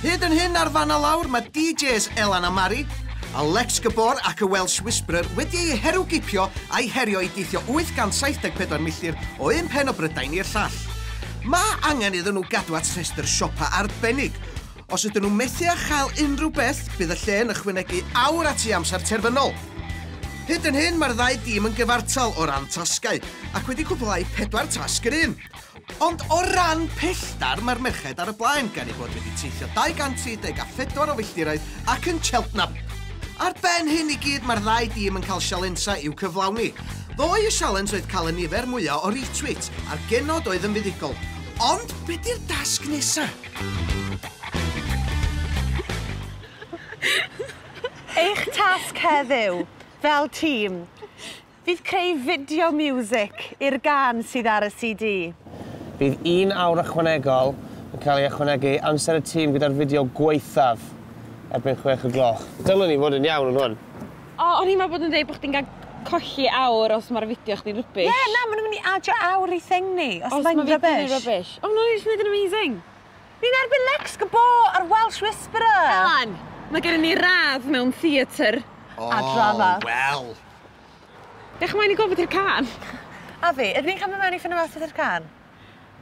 Hyd yn hyn ar fan a lawr mae DJs Elan a Mari, Alex Gabor ac y Welsh Whisperer wedi ei heru gipio a'i herio i deithio 874 milltir o un pen o Brydain i'r llall. Mae angen iddyn nhw gadw at rhestr siopa arbennig, Os ydyn nhw methu â chael unrhyw beth, bydd y lle yn ychwanegu awr at eu amser terfynol. Hyd yn hyn, mae'r ddau dîm yn gyfartal o ran tasgau, ac wedi cwblhau pedwar tasg yr un. Ond o ran pellter, mae'r merched ar y blaen, gan eu bod wedi teithio 234 o filltiroedd ac yn Cheltenham. Ar ben hyn i gyd, mae'r ddau dîm yn cael sialensau i'w cyflawni. Ddoe y sialens oedd cael y nifer mwyaf o retweets, a'r genod oedd yn fuddugol. Ond be 'di'r dasg nesa? Eich tasg heddiw, fel tîm, fydd creu fideo miwsig i'r gân sydd ar y CD. Bydd un awr ychwanegol yn cael ei ychwanegu i amser y tîm gyda'r fideo gwaethaf erbyn chwech y gloch. Dylwn i fod yn iawn yn hwn. O, o'n i'n meddwl bod yn dweud bod chdi'n cael colli awr os mae'r fideo chdi'n rybys. Ie, yeah, na, maen nhw'n mynd i adio awr i thing ni, os, os mae'n rybys. Os mae rybys. O, nhw'n eisiau gwneud yn amazing. Ni'n erbyn Lex Gabo ar Welsh Whisperer. Elan, mae gen i ni radd mewn theatr. Oh, a drama. Wel. Dech mae'n i gofod i'r can. A fi, ydyn ni'n cael mynd mewn i ffynnu mas i'r can?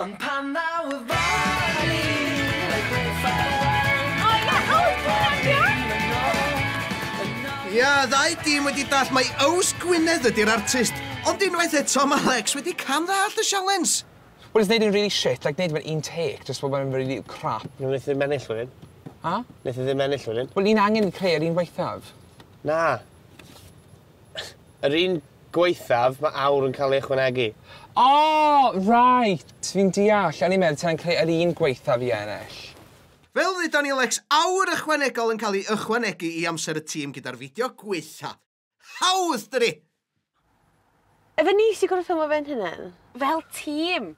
Ond pan ddaw y fory Mae gwed ffarwel O ie! O! Hwnna'n diolch! Ia, ddau dîm wedi dallt mai Ows Gwynedd ydi'r artist, ond unwaith eto ma Lex wedi cam ddallt y sialens! Wel jyst neud e'n rili shit like neud e mewn un take jyst fel bod e'n rili crap. Wel neith e ddim ennill wedyn. A? Neith e ddim ennill wedyn. Wel ni'n angen creu yr un waethaf. Na. Yr un gwaethaf, mae awr yn cael ei ychwanegu. O! Right! Fi'n deall. O'n i'n meddwl ta'n creu yr un gwaethaf i ennill. Fel dduda ni Lex, awr ychwanegol yn cael ei ychwanegu i amser y tîm gyda'r fideo gwaetha. Hawdd, dydi? Efe ni sy gwrthwymo fe'n hunan. Fel tîm!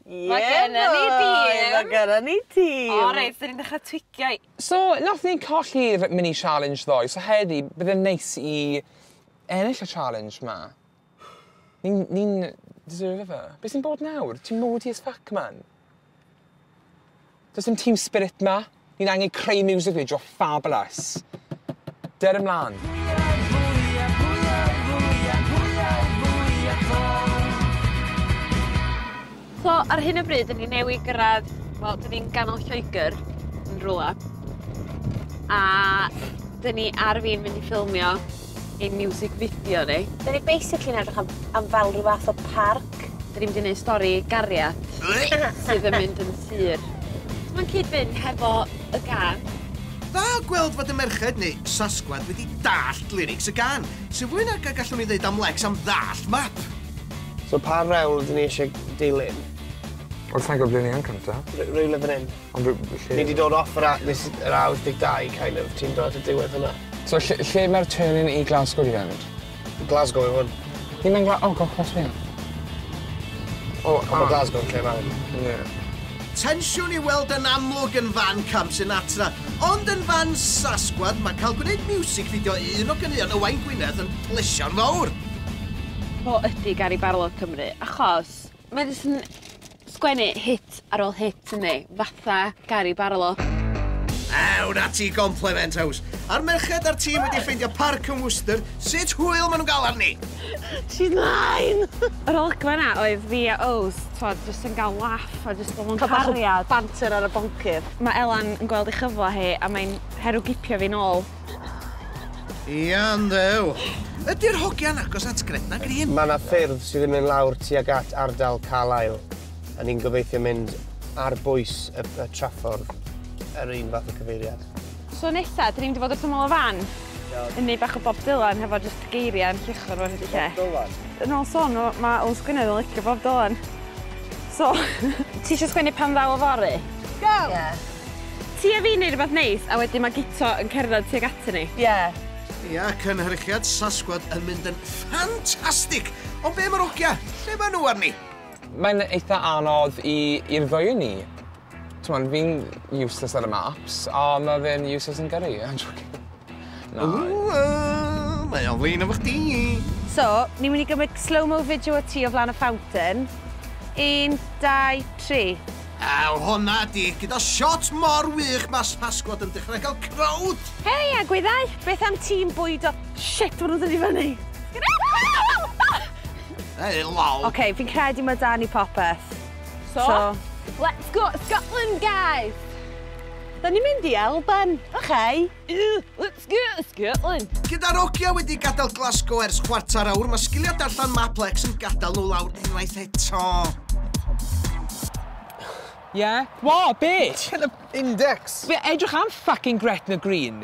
Ie Mae gennon ni dîm! Mae gennon ni tîm! O reit, 'dyn ni'n dechra twigio i- So, nath ni colli'r mini challenge ddoe, so heddi bydd e'n neis i ennill y challenge 'ma. Ni'n ni'n deserve e. Be' sy'n bod nawr? Ti'n moody as fuck man. Does dim team spirit ma. Ni'n angen creu music video fabulous. Dur ymlan. So ar hyn o bryd, dyn ni newydd gyrraedd, wel, dyn ni'n ganol Lloegr yn rhywle. A dyn ni ar fin mynd i ffilmio ein miwsig fideo ni. Da ni basically yn edrych am am fel rhyw fath o parc. Da ni mynd i neud stori gariad sydd yn mynd yn sur. Mae'n cyd-fynd hefo y gân. Dda gweld fod y merched, neu sasgwad, wedi dallt lyrics y gân. Sy'n fwy nag y gallwn ni ddeud am Lex am ddallt map! So pa rewl 'dyn ni isie dilyn? Wel sai'n gwbod ble ni yn cynta. Re- rywle fan 'yn. Ond rw- lle... Ni wedi dod off yr a- nes i- yr awr 12 kind of. Ti'n dod at y diwedd hwnna. So lle lle mae'r trên yn i Glasgow i fynd? Glasgow yw hwn. Ni'n mynd Gla- o gosh gosh ie. O Ond ma' a- Glasgow yn lle mawr. Ie. Tensiwn i'w weld yn amlwg yn fan Cam Sinatra, ond yn fan Sasgwad mae cael gwneud miwsig fideo i un o ganeuon Owain Gwynedd yn blesio'n fawr! O ydi Gary Barlow Cymru achos Mae jyst yn sgwennu hit ar ôl hit yndi? Fatha Gary Barlow. Ew, na ti gomplement house. A'r merched a'r tîm wedi ffeindio parc yn Worcester, sut hwyl maen nhw'n gael arni? She's mine! Yr olygfa yna oedd fi a Ows, twod, jyst yn gael laff a jyst bod mewn cariad. Cael bach o banter ar y boncyff. Mae Elan yn gweld ei chyfle hi a mae'n herwgipio fi nôl. Iawn, ddew! Ydy'r hogia'n agos at Gretna Green? Mae 'na ffyrdd sydd yn mynd lawr tuag at ardal Carlisle, a ni'n gobeithio mynd ar bwys y y traffordd, yr un fath o cyfeiriad. So nesa, dyn ni'n mynd i fod wrth ymyl y fan? Iawn. Ynni bach o Bob Dylan hefo jyst geiria yn lluchio rwan ydi lle. Bob Dylan? Yn ôl son nhw, ma' Alun Sgwynedd yn licio Bob Dylan. So, ti isio sgwennu pan ddaw y fory? Go! Ie. Ti a fi yn neud rwbath neis a wedyn ma Guto yn cerdded tuag atyn ni. Ie. Ia, cynhyrchiad Sasquad yn mynd yn ffantastig! Ond be am yr ogia? Lle ma nhw arni? Mae'n eitha anodd i i'r ddwy o ni. T'mod fi'n useless ar y maps a ma fe'n useless yn gyrru. Na, joking. Ww, mae o'n flin efo chdi! So, ni'n mynd i gymryd slow-mo fideo o ti o flaen y fountain. Un, dau, tri. Aw, honna di, gyda shot mor wych mas Pasgua dw i'n dechrau cael crowd! Hei, egwyddau! Beth am tîm bwydo? Shit, ma' nhw'n dod i fyny! Hei, lol! Ok, fi'n credu ma' da ni popeth. So, let's go Scotland, guys! Da ni'n mynd i Alban, oce? Scotland! Gyda Nokia wedi gadael Glasgow ers chwarter awr, mae sgiliau darllen Maplex yn gadael nhw lawr unwaith eto. Ie? Wha? Be? Ti'n y index? Be? Edrych am fucking Gretna Green?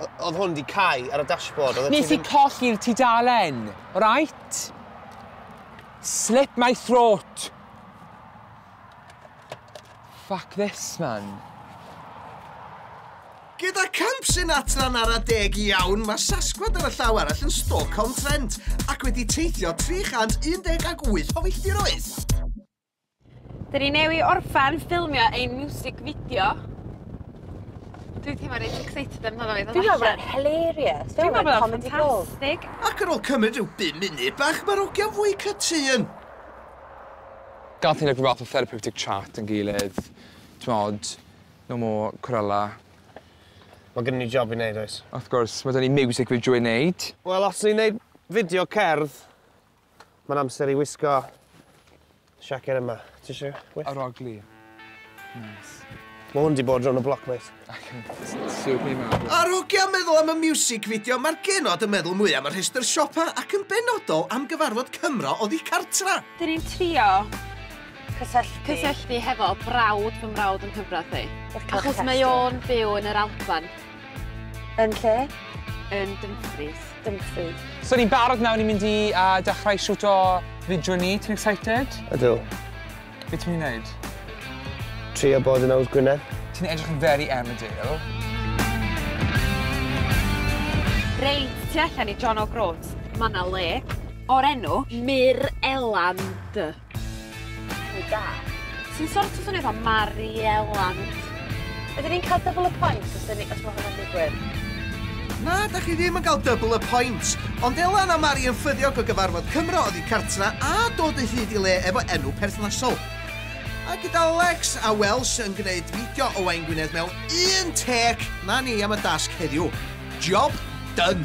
O- oedd hwn di cau ar y dashboard? Oeddet ti Nes i ddim- colli'r tudalen, right? Slip my throat. Fuck this, man. Gyda camp Sinatran ar adeg iawn, mae Sasquad ar y llaw arall yn Stoke-on-Trent ac wedi teithio 318 o filltiroedd. Dyn ni newi orffen ffilmio ein music video. Dwi teimlo reit excited amdano fe ddod allan. Dwi'n meddwl bod e'n hilarious. Dwi'n meddwl bod o'n ffantastig. Ac ar ôl cymryd rhyw bum munud bach mae'r hogiau'n fwy cytûn. Gath ni like rhyw fath o therapeutic chat yn gilydd. T'mod, no more cwrela. Mae gynnon ni job i neud oes? Wrth gwrs, mae 'da ni music video i neud. Wel, os ni'n neud fideo cerdd, Mae'n amser i wisgo siaced yma. Ti eisiau wisg? Yr ogli. Nice. Mae hwn di bod rhwng y bloc, mate. Ac yn siwp ni mewn. Ar hogia meddwl am y music video, mae'r genod yn meddwl mwy am y rhestr siopa ac yn benodol am gyfarfod Cymro oddi cartra. Dyn ni'n trio cysylltu... cysylltu hefo brawd fy mrawd yn hyfryd i. Achos mae o'n byw yn yr Alban. Yn lle? Yn Dumfries. Dumfries. So ni'n barod nawr, ni'n mynd i uh, dechrau siwt o fideo ni. Ti'n excited? Ydw. Be ti'n mynd i wneud? Trio bod yn awd Gwynedd. Ti'n edrych yn very Emmerdale. Reit, ti allan i John O'Groats. Mae yna le o'r enw Myr Eland. Rili da. Ti'n sort of swnio fatha Mariella. Ydyn ni'n ca'l double y points os 'dyn ni os ma' hwnna'n digwydd? Na, da chi ddim yn cael double y points. Ond Ela na Mari yn ffyddiog o gyfarfod Cymro oddi cartra a dod o hyd i le efo enw perthnasol. A gyda Lex a Welsh yn gneud fideo Owain Gwynedd mewn un tec, na ni am y dasg heddiw. Job done!